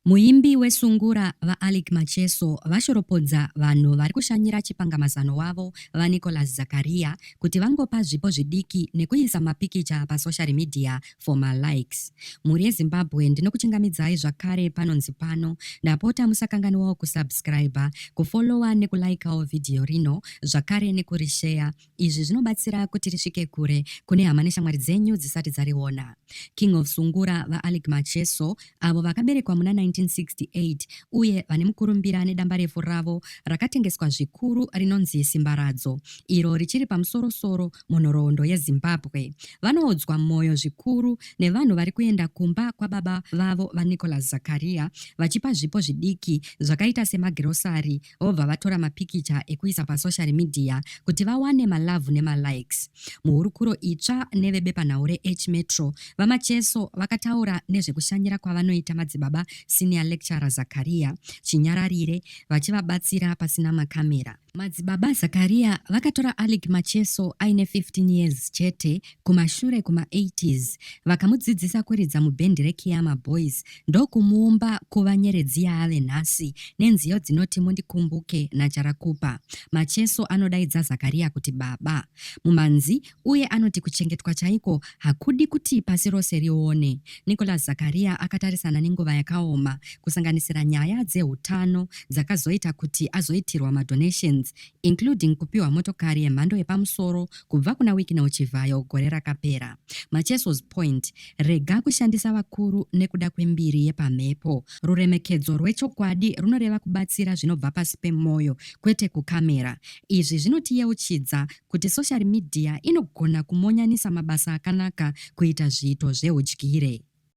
Muimbi weSungura, VaAlick Macheso, vashoropodza vanhu vari kushanyira chipangamazano wavo, VaNicholas Zakaria, kuti vangopa zvipo zvidiki nekuisa mapikicha pasoshari midhiya for malikes. Mhuri yeZimbabwe ndinokuchingamidzai zvakare panonzi pano. Ndapota musakanganwawo kusubscriber, kufollower nekulaikawo vhidhiyo rino zvakare nekurisheya Izvi zvinobatsira kuti risvike kure kune hama neshamwari dzenyu dzisati dzariona. King of Sungura, VaAlick Macheso, avo vakaberekwa muna 1968 uye vane mukurumbira nedambarefu ravo rakatengeswa zvikuru rinonzi Simbaradzo, iro richiri pamusoro-soro munhoroondo yeZimbabwe, vanoodzwa mwoyo zvikuru nevanhu vari kuenda kumba kwababa vavo, VaNicholas Zakaria, vachipa zvipo zvidiki zvakaita semagirosari, vobva vatora mapikicha ekuisa pasocial media kuti vawane malavhu nemalikes. Muhurukuro itsva nevebepanhau reH Metro, VaMacheso vakataura nezvekushanyira kwavanoita madzibaba Senior Lecturer Zakaria Chinyararire vachivabatsira pasina makamera. Madzibaba Zakaria vakatora Alec Macheso aine 15 years chete kumashure kuma 80s vakamudzidzisa kuridza mubhendi reKiyama Boys ndokumuumba kuva nyeredzi yaave nhasi nenziyo dzinoti mundikumbuke naJarakupa. Macheso anodaidza Zakariya kuti baba mumanzi uye anoti kuchengetwa chaiko hakudi kuti pasi rose rione. Nicholas Zakariya akatarisana nenguva yakaoma kusanganisira nyaya dzeutano dzakazoita kuti azoitirwa madonations including kupiwa motokari yemhando yepamusoro kubva kuna Wicknell Chivhayo gore rakapera. Macheso's point Rega kushandisa vakuru nekuda kwembiri yepamhepo. Ruremekedzo rwechokwadi runoreva kubatsira zvinobva pasi pemwoyo, kwete kukamera. Izvi zvinotiyeuchidza kuti soshari midhiya inogona kumonyanisa mabasa akanaka kuita zviito zveudyire.